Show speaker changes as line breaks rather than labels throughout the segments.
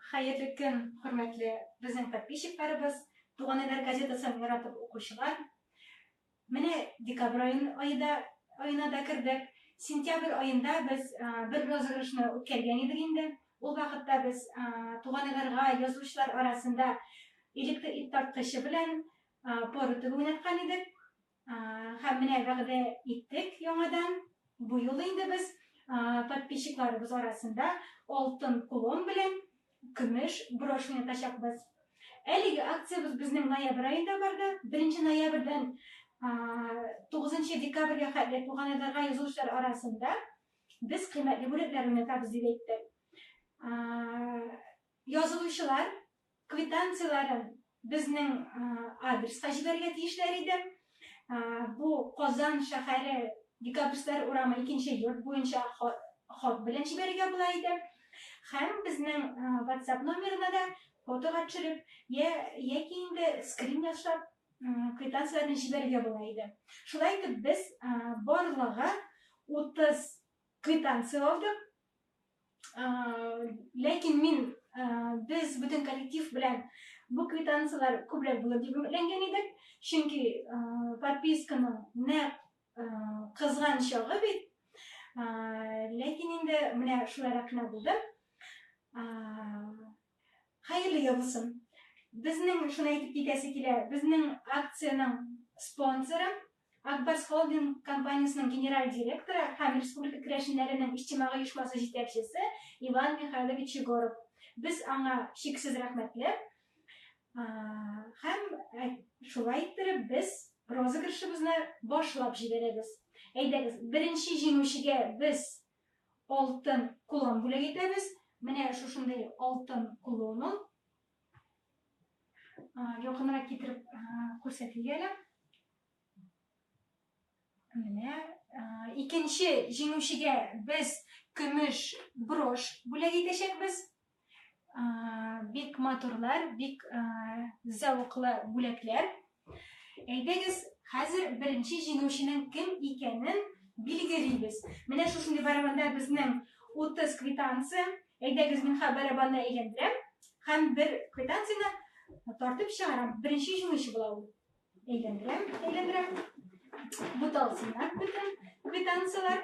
Хәерле көн, хөрмәтле безнең подписчикларыбыз, Туган Әгәр газетасын яратып укучылар. Менә декабрь ае да аена да кердек. Сентябрь аенда без бер розыгрышны үткәргән идек инде. Ул вакытта без Туган Әгәрга язучылар арасында электр ит тарткычы белән пор үтеп уйнаткан идек. Һәм менә вәгъдә иттек яңадан, бу юлы инде без подписчикларыбыз арасында алтын кулон белән көмеш брошня ятачакбыз. Әлеге акциябез безнең ноябрь аенда барды. Беренче ноябрьдән тугызынчы декабрьгә хәтле туганайларга язылучылар арасында без кыйммәтле бүләкләр уйнатабыз, дип әйтте. Язылучылар Квитанцияләрен безнең адреска җибәрергә тиешләр иде. Бу Казан шәһәре Декабристлар урамы икенче йорт буенча хат белән җибәрергә була иде. Һәм безнең WhatsApp номерына да фотога төшереп, я, яки инде скрин ясап, квитанцияләрне җибәрергә була иде. Шулай итеп без барлыгы 30 квитанция алдык. ләкин мин без бүтән коллектив белән бу квитанцияләр күбрәк булыр дип өметләнгән идек чөнки подписканың нәкъ кызган чагы бит ләкин инде менә шулай рәхнә булды хәерле ел булсын безнең шуны әйтеп китәсе килә безнең акциянең спонсоры Ак Барс холдинг компаниясенең генераль директоры һәм республика керәшеннәренең иҗтимагый оешмасы җитәкчесе Иван Михайлович Егоров. Без аңа чиксез рәхмәтле. Һәм шулай иттереп без розыгрышыбызны башлап җибәрәбез. Әйдәгез, беренче җиңүчегә без алтын кулон бүләк итәбез. Менә шушындый алтын кулон ул. Якынрак китереп күрсәтик әле. Менә икенче җиңүчегә без көмеш брош бүләк итәчәкбез. Бик матурлар, бик зәвыклы бүләкләр. Әйдәгез, хәзер беренче җиңүченең кем икәнен билгелибез. Менә шушындый барабанда безнең 30 квитанция. Әйдәгез, мин ха барабанны әйләндерәм һәм бер квитанцияне тартып чыгарам. Беренче җиңүче була ул. Әйләндерәм, әйләндерәм. Буталсыннар бөтен квитанцияләр.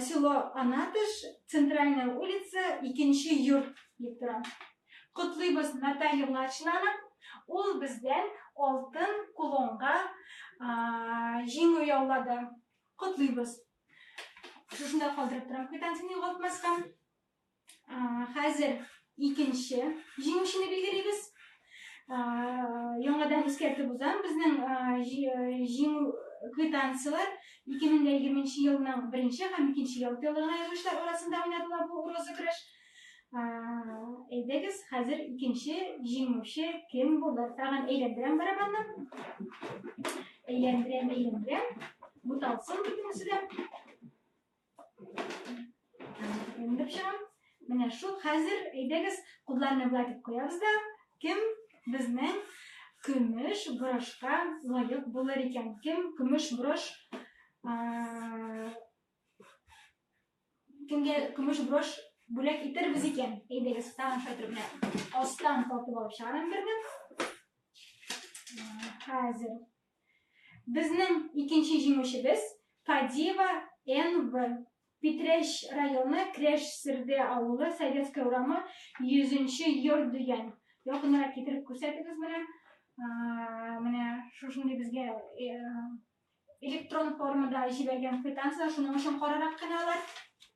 Село Анатыш, Центральная улица, икенче йорт дип тора. Котлыйбыз Наталья Младшинаны. Ул бездән алтын кулонга җиңү яулады. Котлыйбыз. Шушында калдырып торам квитанцияне югалтмаска. Хәзер икенче җиңүчене билгелибез. Яңадан искәртеп узам, безнең җиңү квитанцияләр 2020 елның беренче һәм икенче ялтыйлыгына язучылар арасында уйнатыла бу розыгрыш. Әйдәгез, хәзер икенче җиңүче кем булыр? Тагын әйләндерәм барабанны. Әйләндерәм, әйләндерәм. Буталсын бөтенесе дә. Менеп чыгам. Менә шул хәзер әйдәгез кудларны болай дип куябыз да, кем безнең көмеш брошка лаек булыр икән? Кем көмеш брош кемгә көмеш брош бүләк итербез икән? Әйдәгез, тагын шайтыр белән астан тартып алып чыгарам берне. Хәзер Безнең икенче җиңүчебез, Кадиева НВ. Питрәч районы Крәш Серде авылы, Советская урамы, 100 нче йорт дигән. Якынрак китереп күрсәтегез менә. Менә шушындый безгә электрон формада җибәргән квитанция, шуның өчен карарак кына алар.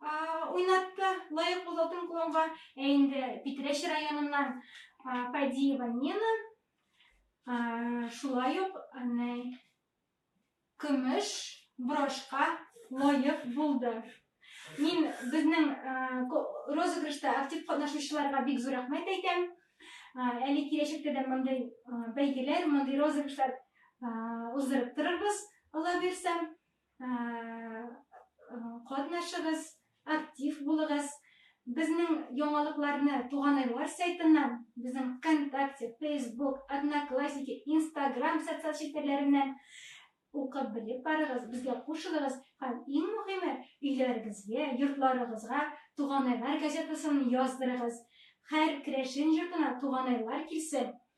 уйнатты, лаек булды алтын кулонга. Ә инде Питрәч районыннан Падиева Нина шулай ук көмеш брошка лаек булды. Мин безнең розыгрышта актив катнашучыларга бик зур рәхмәт әйтәм. Әле киләчәктә дә мондый бәйгеләр, мондый розыгрышлар уздырып торырбыз, Алла бирсә. Катнашыгыз, актив булыгыз. Безнең яңалыкларны Туганайлар сайтыннан, безнең ВКонтакте, Фейсбук, Одноклассники, Инстаграм социаль челтәрләреннән укып белеп барыгыз, безгә кушылыгыз һәм иң мөһиме, өйләрегезгә, йортларыгызга Туганайлар газетасын яздырыгыз. Һәр керәшен йортына Туганайлар килсен,